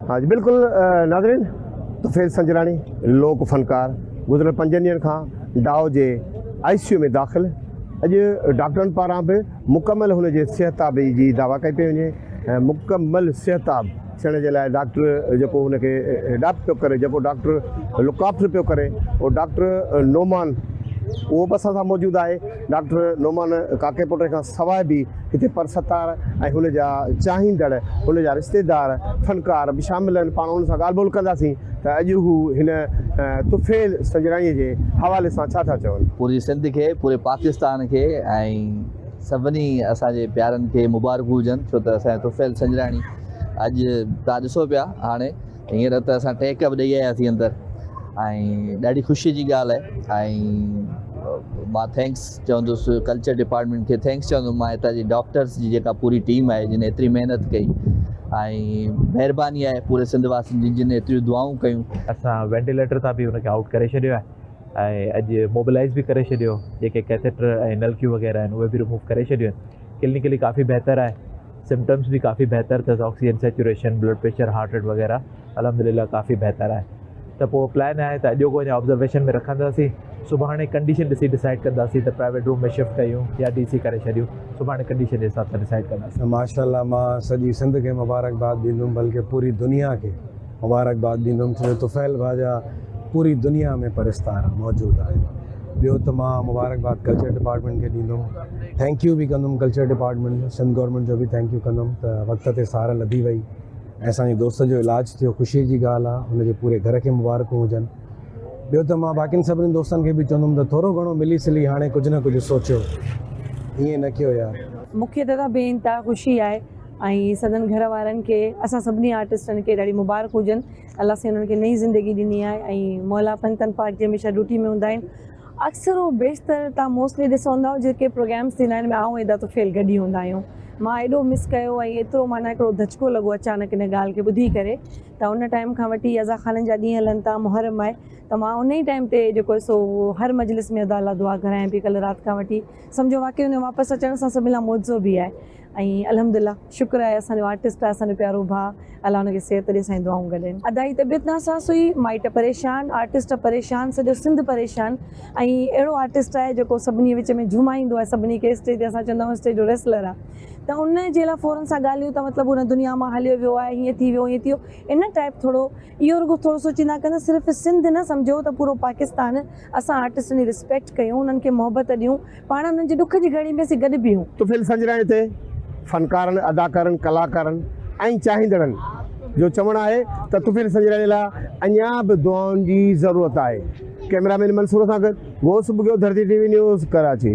ها جي بلڪل ناظرين طفيل سنجراڻي لوڪ فنڪار گذريل پنجن ڏينهن کان ڊاء جي آء سي يو ۾ داخل اڄ ڊاڪٽرن پاران به مڪمل هن جي صحتابي جي دعويٰ ڪئي پئي وڃي ۽ مڪمل صحتاب ٿيڻ جي لاء ڊاڪٽر جيڪو هن کي اڊاپٽ پيو ڪري جيڪو ڊاڪٽر لوڪ آفٽر پيو ڪري اهو ڊاڪٽر نعمان اهو به اسان سان موجود آهي. ڊاڪٽر نعمان ڪاڪيپوٽي کان سواء به هتي پرستار ۽ هن جا چاهيندڙ، هن جا رشتيدار فنڪار به شامل آهن، پاڻ انهن سان ڳالهه ٻولهه ڪنداسين ته اڄ هو هن طفيل سنجراڻيء جي حوالي سان ڇا ٿا چون. پوري سنڌ کي، پوري پاڪستان کي ۽ سڀني اسان جي پيارن کي مبارڪون هجن ڇو ته اسان جو طفيل سنجراڻي اڄ تهان ڏسو پيا هاڻي. هينئر ته اسان ٽهڪ به ڏئي آياسين اندر ۽ ڏاڍي خوشي جي ڳالهه آهي ۽ مان ٿينڪس چوندس ڪلچر ڊپارٽمنٽ کي ٿينڪس چوندس مان هتان جي ڊاڪٽرس جي جيڪا پوري ٽيم آهي جن ايتري محنت ڪئي ۽ مهرباني آهي پوري سنڌ واسين جن جن ايتريون دعائون ڪيون اسان وينٽيليٽر تان به ان کي آؤٽ ڪري ڇڏيو آهي ۽ اڄ موبلائز به ڪري ڇڏيو جيڪي ڪيٿيٽر ۽ نلڪيون وغيره آهن اهي به رموو ڪري ڇڏيون آهن ڪلينڪلي ڪافي بهتر آهي سمپٽمس به ڪافي بهتر اٿس oxygen saturation blood pressure heart rate وغيره الحمدلله ڪافي بهتر آهي ته پوء پلان آهي ته اڄوڪو اڃا آبزرويشن ۾ رکنداسين سڀاڻي ڪنڊيشن ڏسي ڊسائيڊ ڪنداسين ته پرائيويٽ روم ۾ شفٽ ڪيون يا ڊي سي ڪري ڇڏيون سڀاڻي ڪنڊيشن جي حساب سان ڊسائيڊ ڪنداسين. ماشاءالله مان سڄي سنڌ کي مبارڪباد ڏيندم بلڪه پوري دنيا کي. مبارڪباد ڏيندم ڇو جو طفيل ڀا جا پوري دنيا ۾ پرستار موجود آهن ٻيو ته مان مبارڪباد ڪلچر ڊپارٽمينٽ کي ڏيندم ٿينڪ يو به ڪندم ڪلچر ڊپارٽمينٽ جو سنڌ گورمينٽ جو به ٿينڪ يو ڪندم ته وقت تي سار لڌي وئي ۽ اسانجي دوست جو علاج ٿيو خوشي جي ڳالهه آهي هن جي پوري گهر کي مبارڪون هجن ٻيو ته مان باقين سڀني دوستن کي به چوندم ته ٿورو گهڻو ملي سلي هاڻي ڪجهه نه ڪجهه سوچيو ائين نه ڪيو يار. مونکي ته ته بي انتها خوشي آهي ۽ سندن گهر وارن کي اسان سڀني آرٽسٽن کي ڏاڍي مبارڪ هجن الله سائين انهن کي نئين زندگي ڏني آهي ۽ مولا پنتن پاڪ جي هميشه ڊوٽي ۾ هوندا آهن اڪثر و بيشتر تان موسٽلي ڏسو هونداو جيڪي پروگرامس ٿيندا آهن ۾ آئون ادا طفيل گڏ ئي هوندا آهيون مان ايڏو مس ڪيو ۽ ايترو معنيٰ هڪڙو ڌچڪو لڳو اچانڪ ان ڳالهه کي ٻڌي ڪري ته ان ٽائيم کان وٺي ادا خانن جا ڏينهن هلن ٿا محرم آهي ته مان ان ئي ٽائيم تي جيڪو سو هر مجلس ۾ ادا لا دعا گهرايان پي ڪل رات کان وٺي سمجهو واقعي ان واپس اچڻ سان سڀني لا معجزو به آهي ۽ الحمد الله شڪر آهي اسان جو آرٽسٽ آهي اسان جو پيارو ڀاء الله ان کي صحت ڏي سائين دعائون گڏين. ادا جي طبيعت ناساز هئي مائٽ پريشان آرٽسٽ پريشان سڄو سنڌ پريشان ۽ اهڙو آرٽسٽ آهي جيڪو سڀني وچ ۾ جهومائيندو آهي سڀني کي اسٽيج تي اسان چوندا آهيون اسٽيج جو ريسلر آهي ته ان جي لاء فورن سان ڳالهيون ته مطلب هن دنيا مان هليو ويو آهي هيئن ٿي ويو هيئن ٿي ويو ان ٽائپ ٿورو اهو رڳو ٿورو سوچيندا ڪندا صرف سنڌ نه سمجهو ته پورو پاڪستان اسان آرٽسٽن جي رسپيڪٽ ڪيون انهن کي محبت ڏيون پاڻ انهن جي ڏک جي گهڙي ۾ اسين گڏ بيهون. طفيل سنجراڻي تي فنڪارن، اداڪارن، ڪلاڪارن ۽ چاهيندڙن جو چوڻ آهي ته طفيل سنجراڻي لاء اڃا به دعائن جي ضرورت آهي. ڪئميرا مين منصور سان گڏ Ghaus Bughio Dharti T V news Karachi.